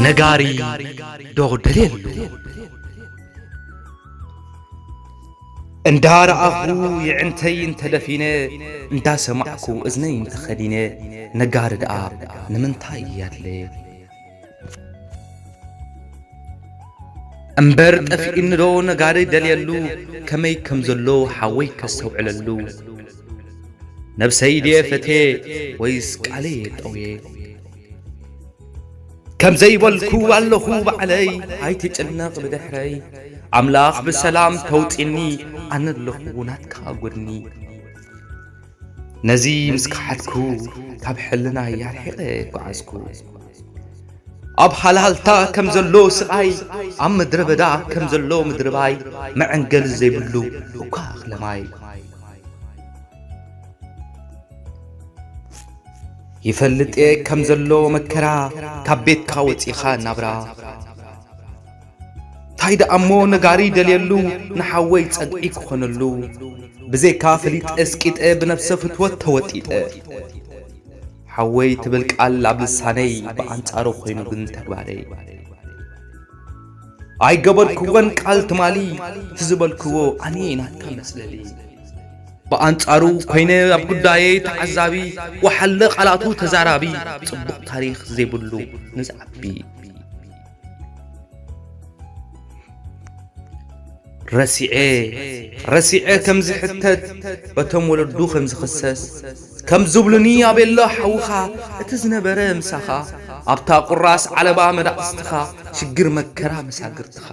ነጋሪ ዶደልየሉ እንዳ ረኣኹ ይዕንተይ እንተደፊነ እንዳ ሰማዕኩ እዝነይ እንተኸዲነ ነጋሪ ደኣ ንምንታይ እየ ኣድለየ? እምበር ጠፊኡኒዶ ነጋሪ ደልየሉ ከመይ ከም ዘሎ ሓወይ ከስተውዕለሉ ነብሰይ ድየ ፈትየ ወይስ ቃለየ ጠውየ ከምዘይ በልኩ ኣለኹ ባዕለይ ኣይትጨነቕ ብድሕረይ ኣምላኽ ብሰላም ከውጽኒ ኣነ ኣለኹ ናትካ ጎድኒ። ነዚ ምስ ከሓድኩ ካብ ሕልናይ ኣርሒቐ ጓዓዝኩ ኣብ ሃልሃልታ ከም ዘሎ ስቓይ ኣብ ምድረ በዳ ከም ዘሎ ምድርባይ መዐንገሊ ዘይብሉ እኳ እኽለ ማይ ይፈልጥ እየ ከም ዘሎ መከራ ካብ ቤትካ ወጺኻ ናብራ ታይ ደኣሞ ነጋሪ ደልየሉ ንሓወይ ጸግዒ ክኾነሉ ብዘይካ ፈሊጠ ስቂጠ ብነብሰ ፍትወት ተወጢጠ ሓወይ ትብል ቃል ኣብ ልሳነይ ብኣንጻሩ ኮይኑ ግን ተግባረይ ኣይገበርክወን ቃል ትማሊ ትዝበልክዎ ኣነ ናትካ መስለሊ ብኣንጻሩ ኮይነ ኣብ ጉዳየይ ተዓዛቢ ወሓለ ቃላቱ ተዛራቢ ጽቡቕ ታሪኽ ዘይብሉ ንዝዓቢ ረሲዔ ረሲዔ ከም ዝሕተት በቶም ወለዱ ከም ዝኽሰስ ከም ዝብሉኒ ኣቤሎ ሓውኻ እቲ ዝነበረ ምሳኻ ኣብታ ቁራስ ዓለባ መዳቕስትኻ ሽግር መከራ መሳግርትኻ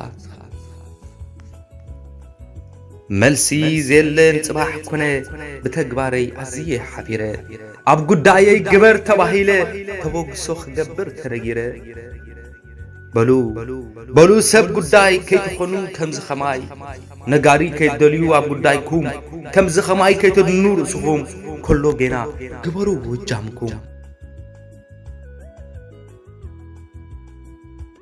መልሲ ዜለን ጽባሕ ኩነ ብተግባረይ ኣዝየ ሓፊረ ኣብ ጉዳየይ ግበር ተባሂለ ተበግሶ ክገብር ተነጊረ በሉ በሉ ሰብ ጉዳይ ከይትኾኑ ከምዚ ኸማይ ነጋሪ ከይትደልዩ ኣብ ጉዳይኩም ከምዚ ኸማይ ከይተድኑ ርእስኹም ከሎ ጌና ግበሩ እጃምኩም